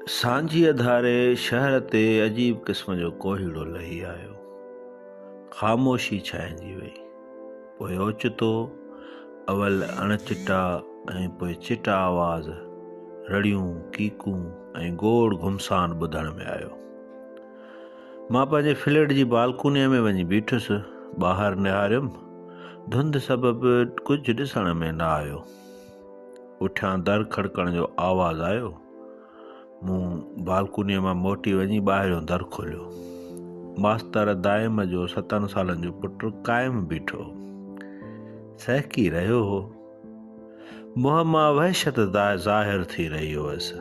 سانجهيء ڌاري شهر تي عجيب قسم جو ڪوهيڙو لهي آيو. خاموشي ڇانئجي ويئي. پوء اوچتو اول اڻ چٽا ۽ پوء چٽا آواز، رڙيون، ڪيڪون ۽ گوڙ گهمسان ٻڌڻ ۾ آيو. مان پنهنجي فليٽ جي بالڪونيء ۾ وڃي بيٺس. ٻاهر نهاريم. ڌنڌ سبب ڪجهه ڏسڻ ۾ نه آيو. پٺيان در کڙڪڻ جو آواز آيو. مون بالڪونيء مان موٽي وڃي ٻاهريون در کوليو. ماستر دائم جو ستن سالن جو پٽ قائم بيٺو هو. سهڪي رهيو هو. منهن مان وحشت ظاهر ٿي رهي هئس.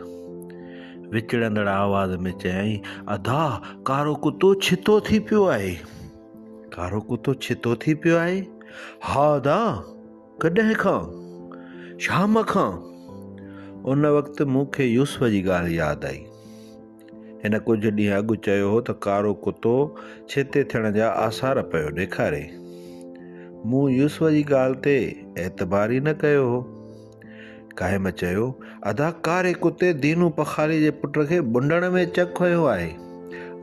وڪڙندڙ آواز ۾ چيائين، ادا ڪارو ڪتو ڇتو ٿي پيو آهي. ڪارو ڪتو ڇتو ٿي پيو آهي؟ ها ادا! ڪڏهن کان؟ شام کان! ان وقت مون کي يوسف جي ڳالهه ياد آئي. هن ڪجهه ڏينهن اڳ چيو هو ته ڪارو ڪتو ڇتي ٿيڻ جا آثار پيو ڏيکاري. مون يوسف جي ڳالهه تي اعتبار ئي نه ڪيو هو. قائم چيو، ادا ڪاري ڪتي دينو پخاري جي پٽ کي ٻنڊڻ ۾ چڪ هنيو آهي.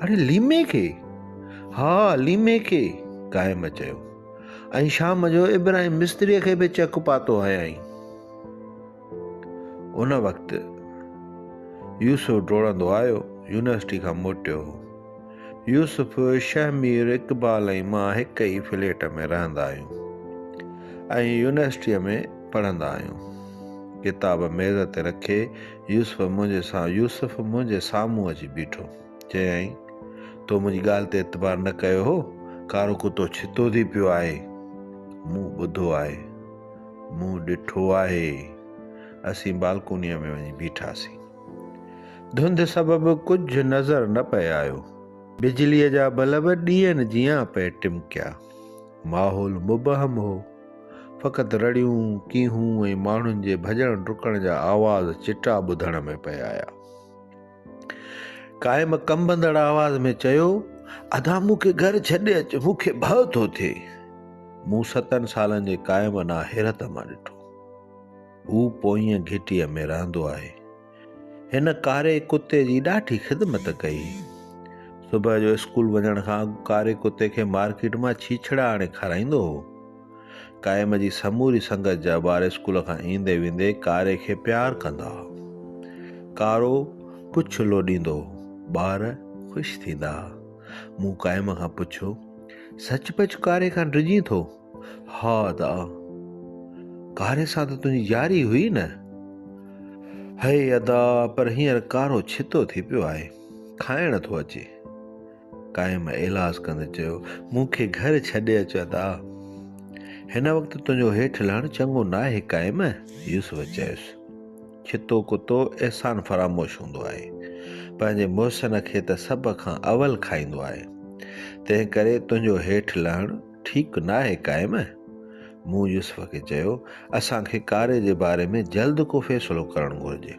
اڙي ليمي کي؟ ها ليمي کي! قائم چيو. ۽ شام جو ابراهيم مستريء کي به چڪ پاتو هنيائين. ان وقت يوسف ڊوڙندو آيو، يونيورسٽي کان موٽيو هو. يوسف، شهمير، اقبال ۽ مان هڪ ئي فليٽ ۾ رهندا آهيون ۽ يونيورسٽيء ۾ پڙهندا آهيون. ڪتاب ميز تي رکي يوسف منهنجي يوسف منهنجي سامهون اچي بيٺو. چيائين، تو منهنجي ڳالهه تي اعتبار نه ڪيو هو، ڪارو ڪتو ڇتو ٿي پيو آهي. مون ٻڌو آهي. مون ڏٺو آهي. اسين بالڪونيء ۾ وڃي بيٺاسين. ڌنڌ سبب ڪجهه نظر نه پئي آيو. بجليء جا بلب ڏيئن جيان پئي ٽمڪيا. ماحول مبهم هو. فقط رڙيون، ڪيهون ۽ ماڻهن جي ڀڄڻ ڊڪڻ جا آواز چٽا ٻڌڻ ۾ پئي آيا. قائم ڪنبندڙ آواز ۾ چيو، ادا مون کي گهر ڇڏي اچ، مون کي ڀؤ ٿو ٿئي. مون ستن سالن جي قائم ڏانهن حيرت مان ڏٺو. هو پوئين گهٽيء ۾ رهندو آهي. هن ڪاري ڪتي جي ڏاڍي خدمت ڪئي. صبح جو اسڪول وڃڻ کان اڳ ڪاري ڪتي کي مارڪيٽ مان ڇيڇڙا آڻي کارائيندو هو. قائم جي سموري سنگت جا ٻار اسڪول کان ايندي ويندي ڪاري کي پيار ڪندا ها. ڪارو پڇ لوڏيندو هو. ٻار خوش ٿيندا ها. مون قائم کان پڇيو، سچ پچ ڪاري کان ڊڄين ٿو؟ ها ادا! ڪاري سان ته تنهنجي ياري هئي نه؟ هئي ادا پر هينئر ڪارو ڇتو ٿي پيو آهي. کائڻ ٿو اچي. قائم ايلاز ڪندي چيو، مون کي گهر ڇڏي اچ ادا! هن وقت تنهنجو هيٺ لهڻ چڱو ناهي قائم! يوسف چيس، ڇتو ڪتو احسان فراموش هوندو آهي. پنهنجي محسن کي ته سڀ کان اول کائيندو آهي. تنهنڪري تنهنجو هيٺ لهڻ. ٺيڪ ناهي قائم؟ مون يوسف کي چيو، اسان کي ڪاري جي باري ۾ جلد ڪو فيصلو ڪرڻ گهرجي.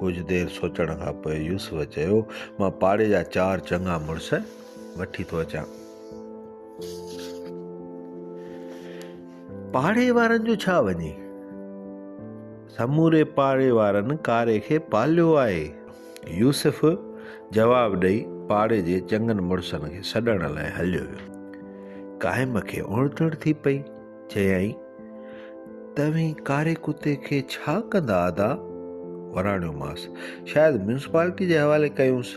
ڪجهه دير سوچڻ کان پوء يوسف چيو، مان پاڙي جا چار چڱا مڙس وٺي ٿو اچان. پاڙي وارن جو ڇا وڃي؟ سموري پاڙي وارن ڪاري کي پاليو آهي. يوسف جواب ڏئي پاڙي جي چڱن مڙسن کي سڏڻ لاء هليو ويو. قائم کي اڻٽڻ ٿي پئي، چيائين، توهين ڪاري ڪتي کي ڇا ڪندا ادا؟ وراڻيومانس، شايد ميونسپالٽي جي حوالي ڪيونس.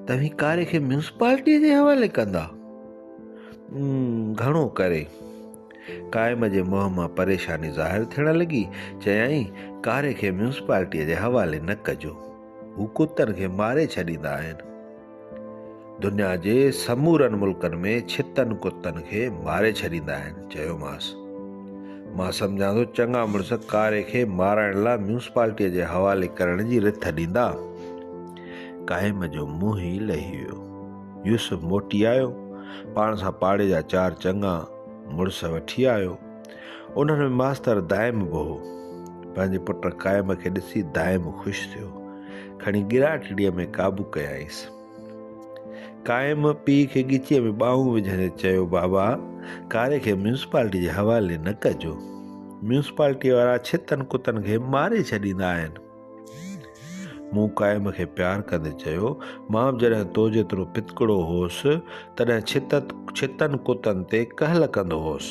توهين ڪاري کي ميونسپالٽيء جي حوالي ڪندا؟ گهڻو ڪري. قائم جي منهن مان پريشاني ظاهر ٿيڻ لڳي، چيائين، ڪاري کي ميونسپالٽيء جي حوالي نه ڪجو، هو ڪتن کي ماري ڇڏيندا آهن. دنيا جي سمورن ملڪن ۾ ڇتن ڪتن کي ماري ڇڏيندا آهن. چيومانس، مان سمجهان ٿو چڱا مڙس ڪاري کي مارائڻ لاء ميونسپالٽيء جي حوالي ڪرڻ جي رٿ ڏيندا. قائم جو منهن ئي لهي ويو. يوسف موٽي آيو، پاڻ سان پاڙي جا چار چڱا، مڙس وٺي آيو. انهن ۾ ماستر دائم به هو. پنهنجي پٽ قائم کي ڏسي دائم خوش ٿيو. کڻي ڳراٽڙيء ۾ قابو ڪيائينس. قائم پيء کي ڳچيء ۾ ٻانهون وجهندي چيو، بابا، ڪاري کي ميونسپالٽيء جي حوالي نه ڪجو. ميونسپالٽيء وارا ڇتن ڪتن کي ماري ڇڏيندا آهن. مون قائم کي پيار ڪندي چيو، مان به جڏهن تو جيترو پتڪڙو هوس، تڏهن ڇتت ڇتن ڪتن تي ڪهل ڪندو هوس.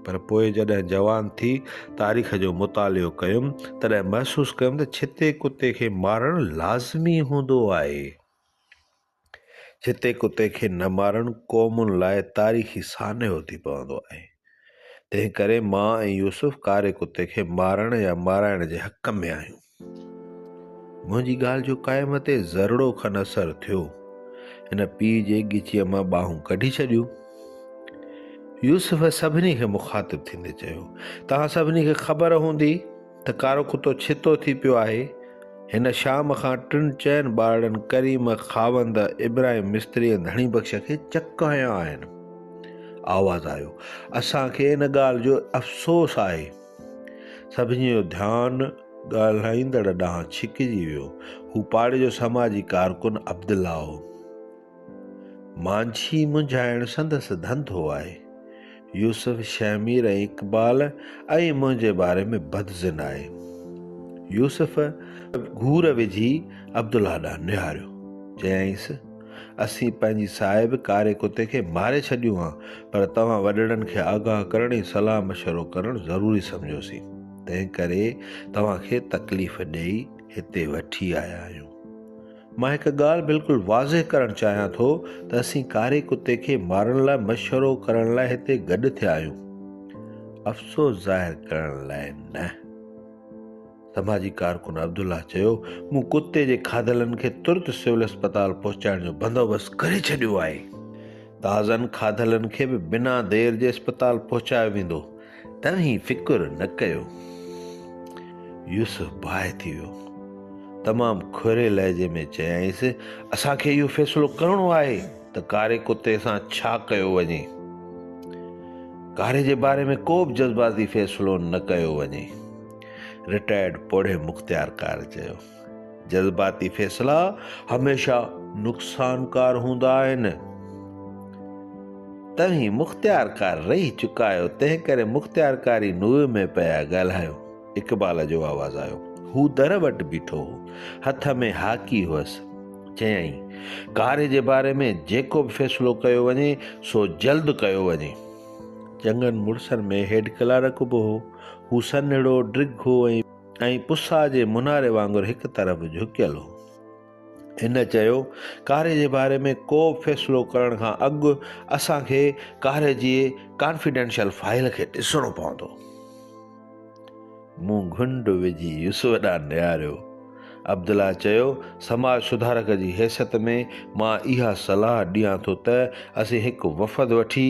پر پوء جڏهن جوان ٿي تاريخ جو مطالعو ڪيم، تڏهن محسوس ڪيم ته ڇتي ڪتي کي مارڻ لازمي هوندو آهي. جتي ڪتي کي نه مارڻ قومن لاء تاريخي سانحو ٿي پوندو آهي. تنهن ڪري مان ۽ يوسف ڪاري ڪتي کي مارڻ يا مارائڻ جي حق ۾ آهيون. منهنجي ڳالهه جو قائم تي ذرڙو کن اثر ٿيو. هن پيء جي ڳچيء مان ٻانهون ڪڍي ڇڏيون. يوسف سڀني کي مخاطب ٿيندي چيو، توهان سڀني کي خبر هوندي ته ڪارو ڪتو ڇتو ٿي پيو آهي. هن شام کان ٽن چئن ٻارڙن ڪريم، خاوند، ابراهيم مستري ۽ ڌڻي بخش کي چڪ هنيا آهن. آواز آيو، اسان کي ان ڳالهه جو افسوس آهي. سڀني جو ڌيان ڳالهائيندڙ ڏانهن ڇڪجي ويو. هو پاڙي جو سماجي ڪارڪن عبدالله هو. مانجهي منجهائڻ سندس ڌنڌو آهي. يوسف شهمير ۽ اقبال ۽ منهنجي باري ۾ بدظن آهي. يوسف گهور وجهي عبدالله ڏانهن نهاريو. چيائينس، اسين پنهنجي صاحب ڪاري ڪتي کي ماري ڇڏيون ها، پر توهان وڏڙن کي آگاهه ڪرڻ ۽ صلاح مشورو ڪرڻ ضروري سمجهيوسين. تنهنڪري توهان کي تڪليف ڏيئي هتي وٺي آيا آهيون. مان هڪ ڳالهه بلڪل واضح ڪرڻ چاهيان ٿو ته اسين ڪاري ڪتي کي مارڻ لاء مشورو ڪرڻ لاء هتي گڏ ٿيا آهيون افسوس ظاهر ڪرڻ لاء نه سماجي ڪارڪن عبدالله چيو مون ڪتي جي کاڌلن کي ترت سول اسپتال پهچائڻ جو بندوبست ڪري ڇڏيو آهي تازن کاڌلن کي به بنا دير جي اسپتال پهچايو ويندو تنهين فڪر نه ڪيو. يوسف باهه ٿي ويو. تمام کهري لهجي ۾ چيائينس، اسان کي اهو فيصلو ڪرڻو آهي ته ڪاري ڪتي سان ڇا ڪيو وڃي. ڪاري جي باري ۾ ڪو به جذباتي فيصلو نه ڪيو وڃي. رٽائرڊ پوڙهي مختيارڪار چيو. جذباتي فيصلا هميشه نقصانڪار هوندا آهن. توهين مختيارڪار رهي چڪا آهيو، تنهنڪري مختيارڪاري نوي ۾ پيا ڳالهايو. اقبال جو آواز آيو. هو در وٽ بيٺو هو. هٿ ۾ هاڪي هئس. چيائين، ڪاري جي باري ۾ جيڪو به فيصلو ڪيو وڃي، سو جلد ڪيو وڃي. چڱن مڙسن ۾ هيڊ ڪلارڪ به هو. هو سنهڙو، ڊگهو ۽. ۽ پساء جي مناري وانگر هڪ طرف جهڪيل هو. هن چيو، ڪاري جي باري ۾ ڪو به فيصلو ڪرڻ کان اڳ اسان کي ڪاري جي ڪانفيڊينشل فائيل کي ڏسڻو پوندو. مون گهنڊ وجهي يوسف ڏانهن نهاريو. عبدالله چيو، سماج سڌارڪ جي حيثيت ۾ مان اها صلاح ڏيان ٿو ته اسين هڪ وفد وٺي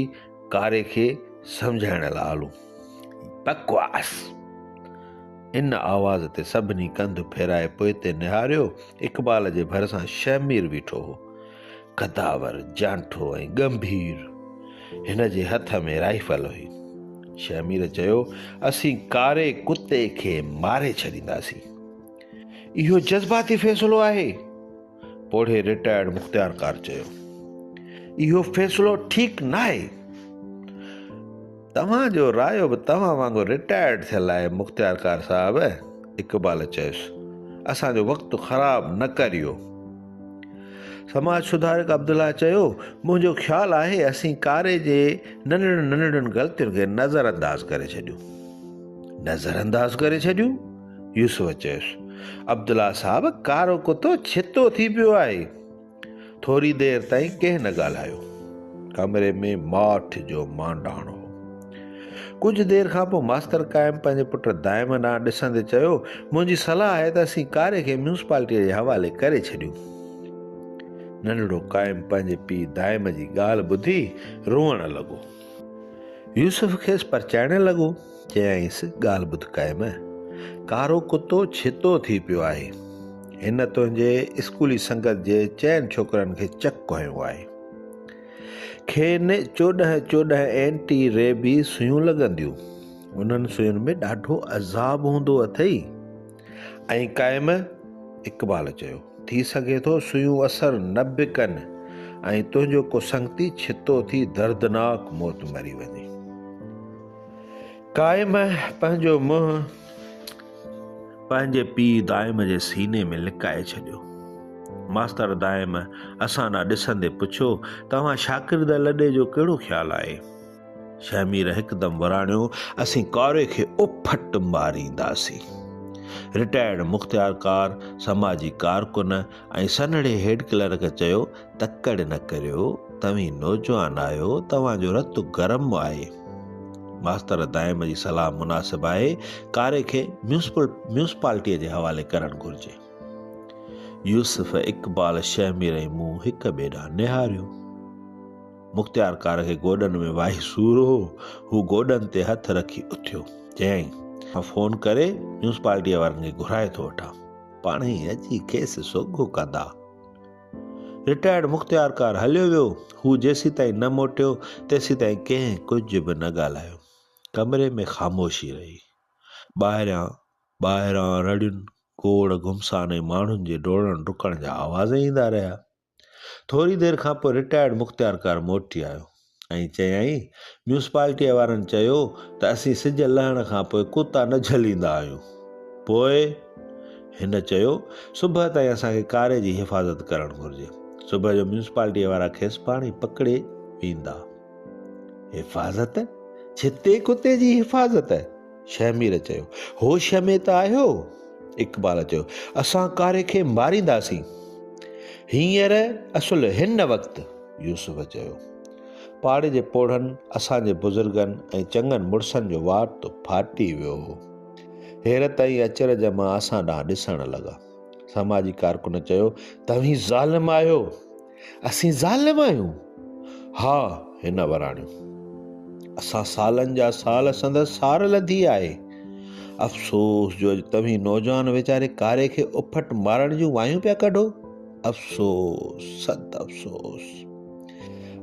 ڪاري کي سمجهائڻ لاء هلون. بڪواس! ان آواز تي سڀني ڪنڌ ڦيرائي پوئتي نهاريو. اقبال جي ڀرسان شهمير بيٺو هو. قداور، جانٺو ۽ ڳنڀير. هن جي هٿ ۾ رائفل هئي. شهمير چيو، اسين ڪاري ڪتي کي ماري ڇڏينداسين. اهو جذباتي فيصلو آهي. پوڙهي رٽائرڊ مختيارڪار چيو اهو فيصلو ٺيڪ ناهي توهان جو رايو به توهان وانگر رٽائرڊ ٿيل آهي مختيارڪار صاحب اقبال چيس اسان جو وقت خراب نه ڪريو سماج سڌارڪ عبدالله چيو منهنجو خيال آهي اسين ڪاري جي ننڍڙن ننڍڙن غلطين کي نظر انداز ڪري ڇڏيون نظر انداز ڪري ڇڏيون يوسف چيس، عبدالله صاحب ڪارو ڪتو ڇتو ٿي پيو آهي. ٿوري دير تائين ڪنهن نه ڳالهايو. ڪمري ۾ ماٺ جو مانڊاڻ هو. ڪجهه دير کان پوء ماستر قائم پنهنجي پٽ دائم ڏانهن ڏسندي چيو، منهنجي صلاح آهي ته اسين ڪاري کي ميونسپالٽيء جي حوالي ڪري ڇڏيون. ننڍڙو قائم پنهنجي پيء دائم جي ڳالهه ٻڌي روئڻ لڳو. يوسف کيس پرچائڻ لڳو، چيائينس، ڳالهه ٻڌ قائم، ڪارو ڪتو ڇتو ٿي پيو آهي، هن تنهنجي اسڪولي سنگت جي چئن ڇوڪرن کي چڪ ڪهيو آهي. کين چوڏهن چوڏهن اينٽي ريبيز سوئيون لڳنديون. انهن سوئين ۾ ڏاڍو عذاب هوندو اٿئي. ائين قائم اقبال چيو. ٿي سگهي ٿو سوئيون اثر نه به ڪن ۽ تنهنجو ڪو سنگتي ڇتو ٿي دردناڪ موت مري وڃي. قائم پنهنجو منهن پنهنجي پيء دائم جي سيني ۾ لڪائي ڇڏيو. ماستر دائم اسان ڏانهن ڏسندي پڇيو، توهان شاڪر دل لڏي جو ڪهڙو خيال آهي؟ شهمير هڪدم وراڻيو، اسين ڪاري کي اڦٽ مارينداسين. رٽائرڊ مختيارڪار سماجي ڪارڪن ۽ سنهڙي هيڊ ڪلرڪ چيو، تڪڙ نه ڪريو، توهين نوجوان آهيو، توهان جو رت گرم آهي. ماستر دائم جي صلاح مناسب آهي، ڪاري کي ميونسپالٽيء جي حوالي ڪرڻ گهرجي. يوسف اقبال شهمير ۽ مون هڪ ٻئي ڏانهن نهاريو. مختيارڪار کي گوڏن ۾ واهي سور هو، هو گوڏن تي هٿ رکي اٿيو، چيائين، مان فون ڪري ميونسپالٽيء وارن کي گهرائي ٿو وٺان. پاڻهي ئي اچي کيس سوگهو ڪندا. رٽائرڊ مختيارڪار هليو ويو، هو جيسيتائين نه موٽيو، تيسيتائين ڪنهن ڪجهه به نه ڳالهايو. ڪمري ۾ خاموشي رهي. ٻاهريان، ٻاهران رڙين، گوڙ گهمسان ۽ ماڻهن جي ڊوڙڻ ڊڪڻ جا آواز ايندا رهيا. ٿوري دير کان پوء رٽائرڊ مختيارڪار موٽي آيو ۽ چيائين، ميونسپالٽيء وارن چيو ته اسين سج لهڻ کان پوء ڪتا نه جهليندا آهيون. پوء؟ هن چيو، صبح تائين اسان کي ڪاري جي حفاظت ڪرڻ گهرجي. صبح جو ميونسپالٽيء وارا کيس پاڻهي پڪڙي ويندا. حفاظت؟ ڇتي ڪتي جي حفاظت؟ شهمير چيو، هوش ۾ ته آهيو؟ اقبال چيو، اسان ڪاري کي مارينداسين. هينئر اصل هن وقت. يوسف چيو، پاڙي جي پوڙهن اسان جي بزرگن ۽ چڱن مڙسن جو وات ڦاٽي ويو هو. حيرت ۽ اچرج مان اسان ڏانهن ڏسڻ لڳا. سماجي ڪارڪن چيو، توهين ظالم آهيو. اسين ظالم آهيون؟ ها، هن وراڻيو. اسان سالن جا سال سندس سار لڌي آهي. افسوس جو اڄ توهين نوجوان ويچاري ڪاري کي اڦٽ مارڻ جون وايون پيا ڪڍو. افسوس، صد افسوس.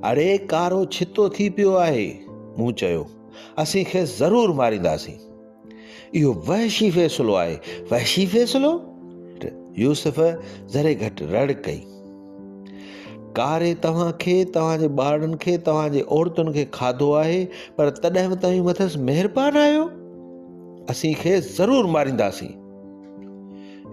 اڙي ڪارو ڇتو ٿي پيو آهي. مون چيو، اسين کيس ضرور مارينداسين. اهو وحشي فيصلو آهي. وحشي فيصلو؟ يوسف ذري گهٽ رڙ ڪئي. ڪاري توهان کي، توهان جي ٻارڙن کي، توهان جي عورتن کي کاڌو آهي، پر تڏهن به توهين مٿس مهربان آهيو. اسين کيس ضرور مارينداسين.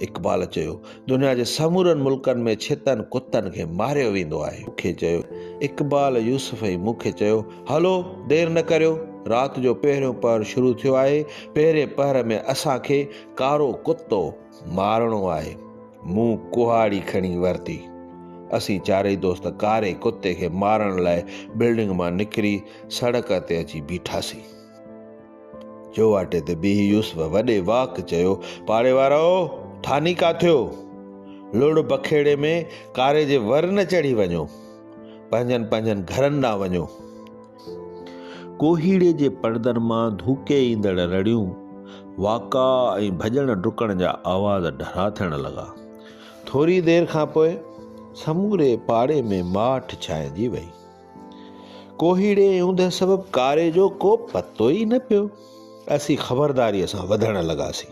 اقبال چيو، دنيا جي سمورن ملڪن ۾ ڇتن ڪتن کي ماريو ويندو آهي. مون کي چيو، اقبال، يوسف ۽ مون کي چيو، هلو، دير نه ڪريو، رات جو پهريون پهر شروع ٿيو آهي، پهرين پهر ۾ اسان کي ڪارو ڪتو مارڻو آهي. مون ڪهاڙي کڻي ورتي. اسين چارئي دوست ڪاري ڪتي کي مارڻ لاء بلڊنگ مان نڪري سڙڪ تي اچي بيٺاسين. چوواٽي تي بيهي يوسف وڏي واڪ چيو، پاڙي وارؤ! ٺاني ڪا ٿيو؟ لڙ بکيڙي ۾ ڪاري جي ور نه چڙهي وڃو. پنهنجن پنهنجن گهرن ڏانهن وڃو. ڪوهيڙي جي پڙدن مان ڌوڪي ايندڙ رڙيون، واڪا ۽ ڀڄڻ ڊڪڻ جا آواز ڍرا ٿيڻ لڳا. ٿوري دير کانپوء سموري پاڙي ۾ ماٺ ڇانئجي ويئي. ڪوهيڙي ۽ اوندهه سبب ڪاري جو ڪو پتو ئي نه پيو. اسين خبرداريء سان وڌڻ لڳاسين.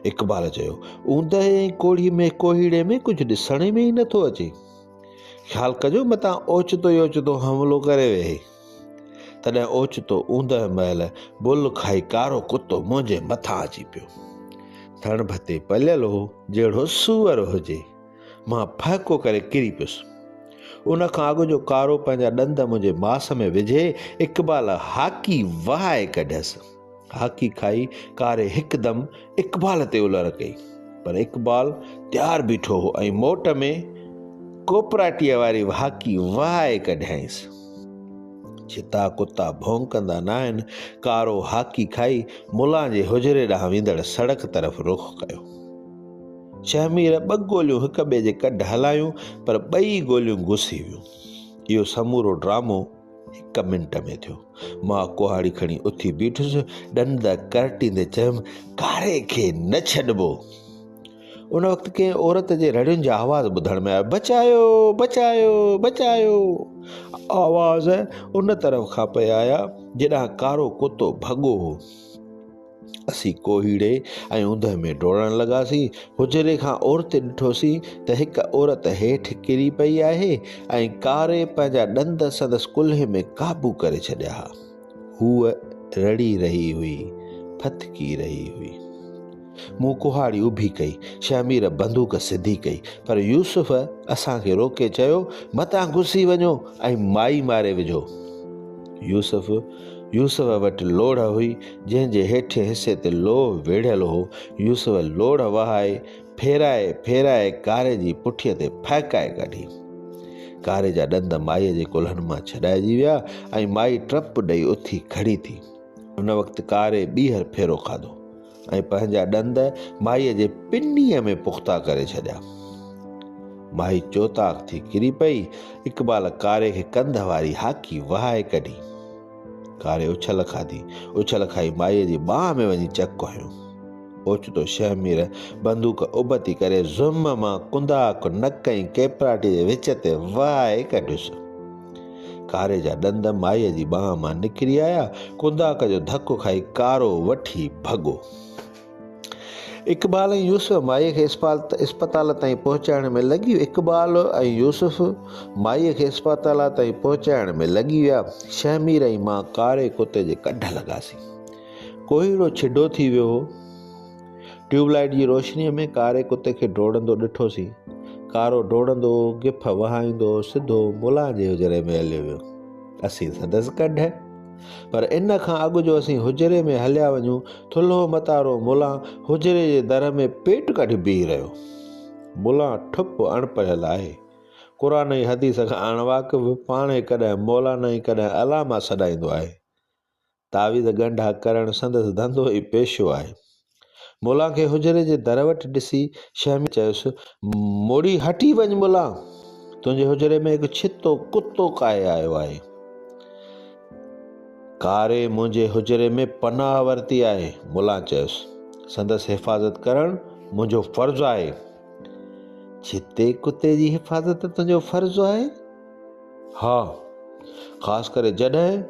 اقبال چيو، اوندهه ۽ ڪوڙهي ۾ ڪوهيڙي ۾ ڪجهه ڏسڻ ۾ ئي نه ٿو اچي. خيال ڪجو متان اوچتو ئي اوچتو حملو ڪري ويهي. تڏهن اوچتو اوندهه مهل بل کائي ڪارو ڪتو منهنجي مٿان اچي پيو. ٿڻ ڀتي پليل هو، جهڙو سوئر هجي. مان ڦهڪو ڪري ڪري پيس. ان کان اڳ جو ڪارو پنهنجا ڏند منهنجي ماس ۾ وجهي اقبال هاڪي وهائي ڪڍيس. هاڪي کائي ڪاري هڪدم اقبال تي الر ڪئي. پر اقبال تيار بيٺو هو ۽ موٽ ۾ ڪوپراٽيء واري هاڪي وهائي ڪڍيائينس. ڇتا ڪتا ڀونڪندا ناهن، ڪارو هاڪي کائي ملان جي حجري ڏانهن ويندڙ سڙڪ طرف رخ ڪيو. شهمير ٻه گوليون هڪ ٻئي جي ڪڍ هلايون پر ٻئي گوليون گسي ويون اهو سمورو ڊرامو هڪ منٽ ۾ ٿيو مان ڪهاڙي کڻي اٿي بيٺس ڏند ڪرٽيندي چيم ڪاري کي نه ڇڏبو ان وقت ڪنهن عورت جي رڙين جا آواز ٻڌڻ ۾ آيا بچايو بچايو بچايو آواز ان طرف کان پئي آيا جڏهن ڪارو ڪتو ڀڳو هو اسين ڪوهيڙي ۽ اوندهه ۾ ڊوڙڻ لڳاسين. حجري کان اورتي ڏٺوسين ته هڪ عورت هيٺ ڪري پئي آهي ۽ ڪاري پنهنجا ڏند سندس ڪلهي ۾ قابو ڪري ڇڏيا ها. هوء رڙي رهي هئي، ڦٿڪي رهي هئي. مون ڪهاڙي اڀي ڪئي. شهمير بندوق سڌي ڪئي، پر يوسف اسان کي روڪي چيو، متان گسي وڃو ۽ مائي ماري وجهو. يوسف يوسف وٽ لوڙهه هئي. جنهن جي هيٺين حصي تي لوهه ويڙهيل هو، يوسف لوڙهه وهائي، ڦيرائي ڦيرائي ڪاري جي پٺيء تي ڦهڪائي ڪڍي. ڪاري جا ڏند مائيء جي ڪلهن مان ڇڏائجي ويا ۽ مائي ٽپ ڏئي اٿي کڙي ٿي. ان وقت ڪاري ٻيهر ڦيرو کاڌو ۽ پنهنجا ڏند مائيء جي پنيء ۾ پختا ڪري ڇڏيا. مائي چوطاق ٿي ڪري پئي. اقبال ڪاري کي ڪنڌ واري هاڪي وهائي ڪڍي. ڪاري اڇل کاڌي. اڇل کائي مائيء جي ٻانهن ۾ وڃي چڪ هنيو. اوچتو شهمير بندوق ابتي ڪري زم مان ڪنداڪ نڪ ۽ ڪيپراٽي جي وچ تي وهائي ڪڍيس. ڪاري جا ڏند مائيء جي ٻانهن مان نڪري آيا. ڪنداڪ جو ڌڪ کائي ڪارو وٺي ڀڳو. اقبال ۽ يوسف مائيء کي اسپتال تائين پهچائڻ ۾ لڳي ويا اقبال ۽ يوسف مائيء کي اسپتال تائين پهچائڻ ۾ لڳي ويا شهمير ۽ مان ڪاري ڪتي جي ڪڍ لڳاسين ڪوهيڙو ڇڊو ٿي ويو هو ٽيوب لائيٽ جي روشنيء ۾ ڪاري ڪتي کي ڊوڙندو ڏٺوسين ڪارو ڊوڙندو گف وهائيندو سڌو ملان جي حجري ۾ هليو ويو اسين سندس ڪڍ پر ان کان اڳ جو اسين حجري ۾ هليا وڃون، ٿلهو متارو ملان حجري جي در ۾ پيٽ ڪڍي بيهي رهيو. ملان ٺپ اڻپڙهيل آهي. قرآن ۽ حديث کان اڻواقف، پاڻهي ڪڏهن مولانا ۽ ڪڏهن علامه سڏائيندو آهي. تعويذ ڳنڍا ڪرڻ سندس ڌنڌو ۽ پيشو آهي. مولان کي حجري جي در وٽ ڏسي شهمي چيس، موڙي هٽي وڃ مولان، تنهنجي حجري ۾ هڪ ڇتو ڪتو ڪاهي آيو آهي. ڪاري منهنجي حجري ۾ پناهه ورتي آهي، مولان چيس. سندس حفاظت ڪرڻ منهنجو فرض آهي. ڇتي ڪتي جي حفاظت تنهنجو فرض آهي؟ ها، خاص ڪري جڏهن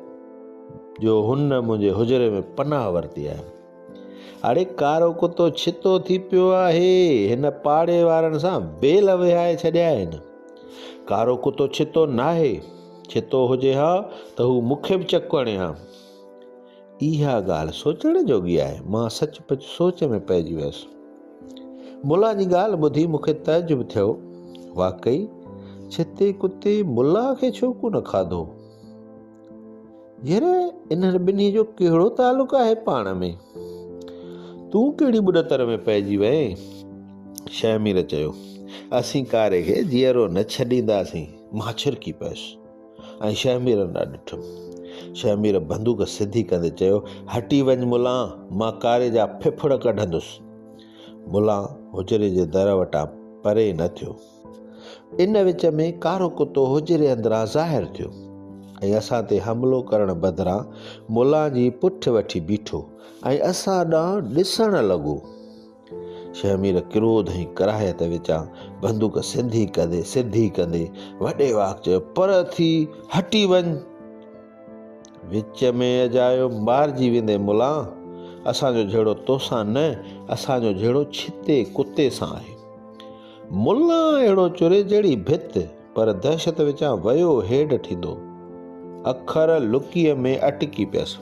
جو هن منهنجي حجري ۾ پناهه ورتي آهي. اڙي ڪارو ڪتو ڇتو ٿي پيو آهي هن پاڙي وارن سان ويل وهائي ڇڏيا آهن ڪارو ڪتو ڇتو ناهي ڇتو هجي ها ته هو مونکي به چڪ هڻي ها اها ڳالهه سوچڻ جوڳي آهي مان سچ پچ سوچ ۾ پئجي ويس ملا جي ڳالهه ٻڌي مونکي تعجب ٿيو واقعي ڇتي ڪتي ملا کي ڇو ڪو نه کاڌو ير انهن ٻنهي جو ڪهڙو تعلق آهي پاڻ ۾؟ تون ڪهڙي ٻڏتر ۾ پئجي وئين؟ شهمير چيو، اسين ڪاري کي جيئرو نه ڇڏينداسين. مان ڇرڪي پيس ۽ شهمير ڏانهن ڏٺم. شهمير بندوق سڌي ڪندي چيو، هٽي وڃ ملان، مان ڪاري جا ڦڦڙ ڪڍندس. ملان حجري جي در وٽان پري نه ٿيو. ان وچ ۾ ڪارو ڪتو حجري اندران ظاهر ٿيو ۽ اسان تي حملو ڪرڻ بدران ملان جي پٺ وٺي بيٺو ۽ اسان ڏانهن ڏسڻ لڳو. شهمير ڪروڌ ۽ ڪراهيت وچان بندوق سڌي ڪندي سڌي ڪندي وڏي واڪ چيو پر ٿي هٽي وڃ. وچ ۾ اجايو مارجي ويندي ملان اسان جو جهيڙو توسان نه اسان جو جهيڙو ڇتي ڪتي سان آهي. ملا اهڙو چري جهڙي ڀت، پر دهشت وچان ويو هيڊ ٿيندو. اکر لڪيء ۾ اٽڪي پيس.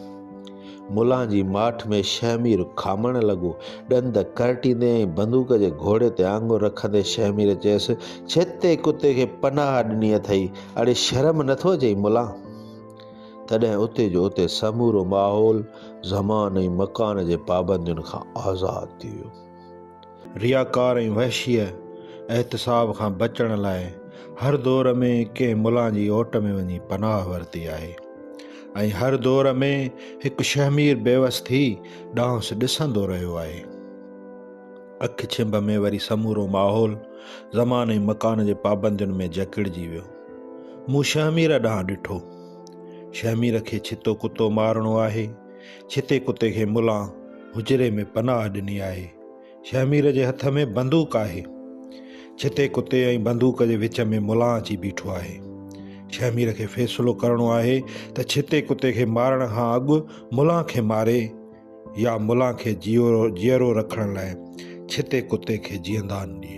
ملان جي ماٺ ۾ شهمير کامڻ لڳو. ڏند ڪرٽيندي ۽ بندوق جي گهوڙي تي آڱر رکندي شهمير چيس، ڇتي ڪتي کي پناهه ڏني اٿئي، اڙي شرم نه ٿو اچئي ملان؟ تڏهن اتي جو اتي سمورو ماحول زمان ۽ مڪان جي پابندين کان آزاد ٿي ويو. رياڪار ۽ وحشيء احتساب کان بچڻ لاء هر دور ۾ ڪنهن ملان جي اوٽ ۾ وڃي پناهه ورتي آهي ۽ هر دور ۾ هڪ شهمير بيوس ٿي ڏانهنس ڏسندو رهيو آهي. اک ڇنڀ ۾ وري سمورو ماحول زمان ۽ مڪان جي پابندين ۾ جڪڙجي ويو. مون شهمير ڏانهن ڏٺو. شهمير کي ڇتو ڪتو مارڻو آهي. ڇتي ڪتي کي ملان حجري ۾ پناهه ڏني آهي. شهمير جي هٿ ۾ بندوق آهي. ڇتي ڪتي ۽ بندوق جي وچ ۾ ملان اچي بيٺو آهي. شهمير کي فيصلو ڪرڻو آهي ته ڇتي ڪتي کي مارڻ کان اڳ ملان کي ماري يا ملان کي جيئرو رکڻ لاء ڇتي ڪتي کي جيئندان ڏئي.